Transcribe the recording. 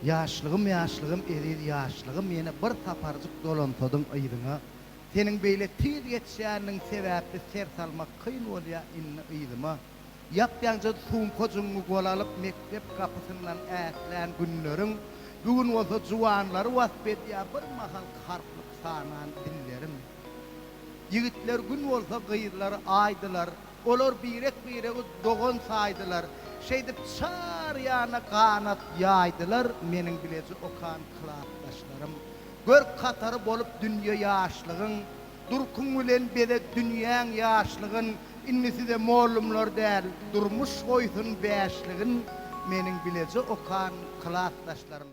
Ýaşlygym ýaşlygym eziz ýaşlygym ýene bir saparjyk dolansadyň yzyňa seniň beýle tiz geçýäniň sebäpli ser salmak kyn bolýa indi yzyma ýap-ýaňja sumkajygyňy gola alyp mekdep gapysyndan ätlän günleriň bu gün bolsa juwanlary wasp edýä bir mahal harplyk sanan dillerim ýigitler gün bolsa gyzlary aýdylar Olar birek-biregi dogan saýdylar, Şeýdip çar ýana ganat ýaýdylar, Meniň bileje okan klasdaşlarym. Görk hatary bolup dünýe ýaşlygyň, Durkuň bilen beze dünýäň ýaşlygyn, Indi size mollumlar däl, durmuş goýsun bäşligin, Meniň bileje okan klasdaşlarym.